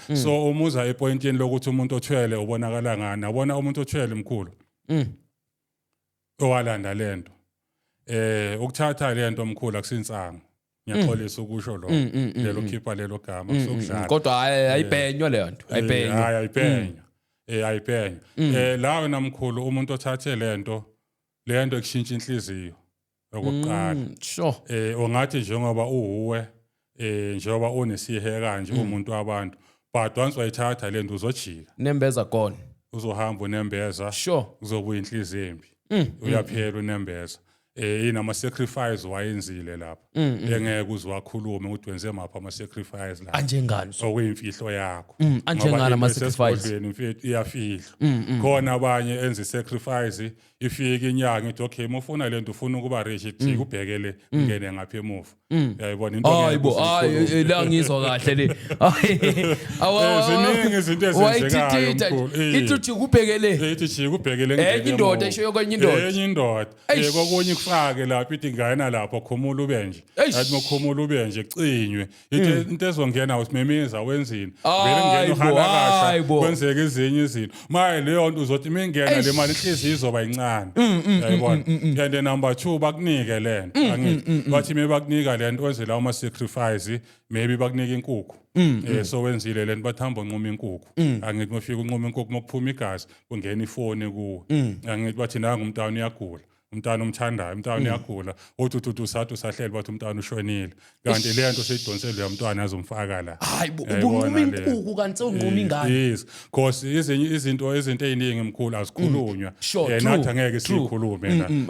mm. so umuza epointini lokuthi umuntu othwele ubonakala ngani abona umuntu othwele mkhulu mm. owalanda lento eh ukuthatha lento mkhulu akusinsango ngiyaxolisa ukusho lo mm, mm, mm, lelo khipha lelo gama kusukudlala kodwa eh, ayibhenywa leyo nto eh, ayibhenywa hayi ayibhenywa eh ayibhenywa eh la wena mkhulu umuntu othathe lento lento ekushintsha inhliziyo okokuqala mm, sure eh ongathi njengoba uwe eh njengoba unesihe kanje mm. umuntu wabantu but once wayithatha lento uzojika nembeza gone uzohamba unembeza sure uzobuya inhliziyo embi mm, mm, uyaphela unembeza eh inama sacrifice wayenzile lapha engeke uziwakhulume ukuthi wenze mapha ama sacrifice la anjengani so okuyimfihlo yakho anjengani ama sacrifice mfethu iyafihlwa khona abanye enze sacrifice ifike inyanga ithi okay mufuna lento ufuna ukuba rich ithi mm. ubheke le mm. ngene ngapha emuva mm. yayibona into hayi bo hayi eh, eh, la ngizwa kahle le eh, ziningi izinto ezenzekayo ithi uthi kubheke le ithi chi kubheke le ngene indoda isho yokwenye indoda enye indoda kokunye kufake lapha ithi ngayena lapho khumula ube nje athi mokhumula ube nje cinywe Ithi hmm. into ezongena usimemeza wenzini. Vele ngena uhalakasha kwenzeka izinye izinto. Maye leyo nto uzothi mingena le mali inhliziyo izoba incane. Hmm, hmm, Yayibona. And number 2 bakunike lento. Angithi bathi me bakunika lento wenze lawo ma sacrifice maybe bakunike inkukhu. Eh so wenzile lento bathamba unquma inkukhu. Angithi mafika unquma inkukhu mokuphuma igazi kungena ifoni kuwe. Angithi bathi nangu umntana uyagula. umntana umthandayo umntana mm. uyagula uthi uthi usathi usahleli bathi umntana ushonile kanti le nto seyidonsele lo mntwana azomfaka la hayi ubunquma impuku kanti sewunquma ingane yes because izinto izinto eziningi mkhulu azikhulunywa mm. yena athi angeke sikhulume la mm,